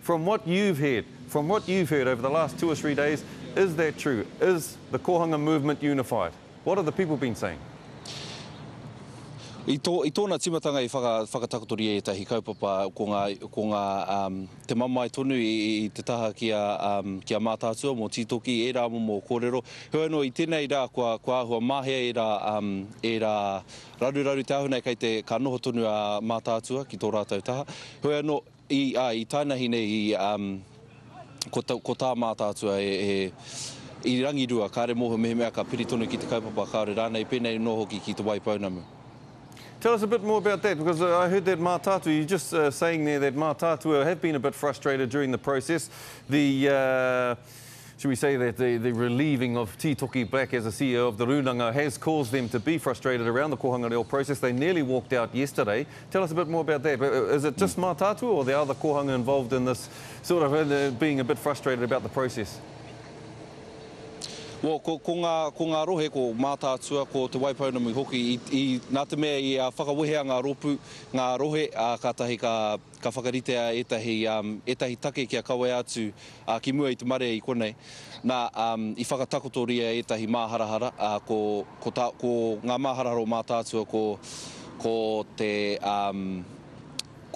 From what you've heard, from what you've heard over the last two or three days, is that true? Is the Kohanga movement unified? What have the people been saying? I tō, i tōna timatanga i whaka, whakatakotoria i ētahi kaupapa, ko ngā, ko ngā um, te mamae tonu i, i te taha ki a, um, ki a Mātaatua mō Tītoki, ērā momo kōrero. Heoi anō, i tēnei rā, kua, kua āhua māhea ērā, um, ērā raruraru te ahunai kei te, ka noho tonu a Mātaatua ki tō rātou taha. Heoi anō, I, ā, i tainahi nei i, um, ko, ta, ko tā Mātaatua e, e, i rangirua, kāre mōhio mehemea ka piri tonu ki te kaupapa, kāore rānei, pēnei anō hoki ki Te Waipounamu. Tell us a bit more about that because uh, I heard that Mātaatua, you're just uh, saying there that Mātaatua have been a bit frustrated during the process. The, uh, Should we say that the, the relieving of Titoki Black as a CEO of the Rūnanga has caused them to be frustrated around the Kohanga Reo process? They nearly walked out yesterday. Tell us a bit more about that. Is it just mm. Mātātua or the other Kohanga involved in this sort of uh, being a bit frustrated about the process? Well, ko, ko, ngā, ko ngā rohe, ko Mātātua, ko Te Waipounamu hoki, i, i, nā te mea i a whakawehea ngā ropu, ngā rohe, a, ka tahi ka Ka whakaritea ētahi, ētahi take kia kawea atu ki mua i te marea i konei. Nā, i whakatakotoria ētahi māharahara, ko, ko tā, ko ngā māharahara o Mātaatua ko, ko te,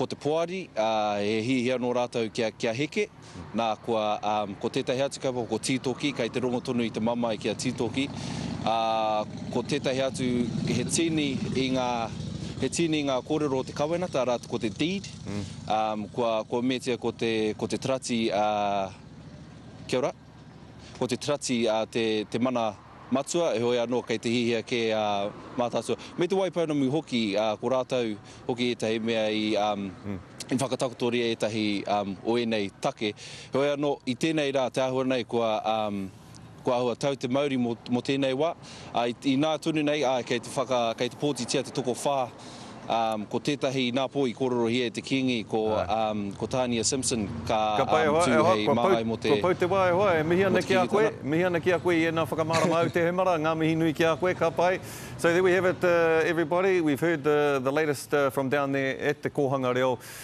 ko te poari, he hiahia nō rātou kia, kia heke. Nā, kua, ā, ko tētahi atu kaupapa ko Tītoki, kei te rongo tonu i te mamae ki a Tītoki, ā, ko tētahi atu he tīni i ngā, he tīni i ngā kōrero o te kawenata, arā, ko te deed, ā, kua, kua meatia ko te, ko te tarati, ā, kia ora. Ko te Tirati te mana matua, heoi anō kei te hiahia kē a Mātaatua, me Te Waipounamu hoki, ko rātou hoki ētahi mea i whakatakotoria ētahi o ēnei take. Heoi anō, i tēnei rā te āhua nei kua āhua tau te mauri mō tēnei wā. Inā tonu nei, āe, kei te whaka, kei te pōtitia te tokowhā, ko tētahi inā pō i kōrerohia e te Kīngi, ko Tānia Simpson, ka tū hei māngai mō te. Kua pau te wā e hoa, e mihi ana ki a koe, mihi ana ki a koe i ēnā whakamārama au te hemara, ngā mihi nui ki a koe, ka pai. So there we have it everybody, we've heard the latest from down there at te kōhanga reo,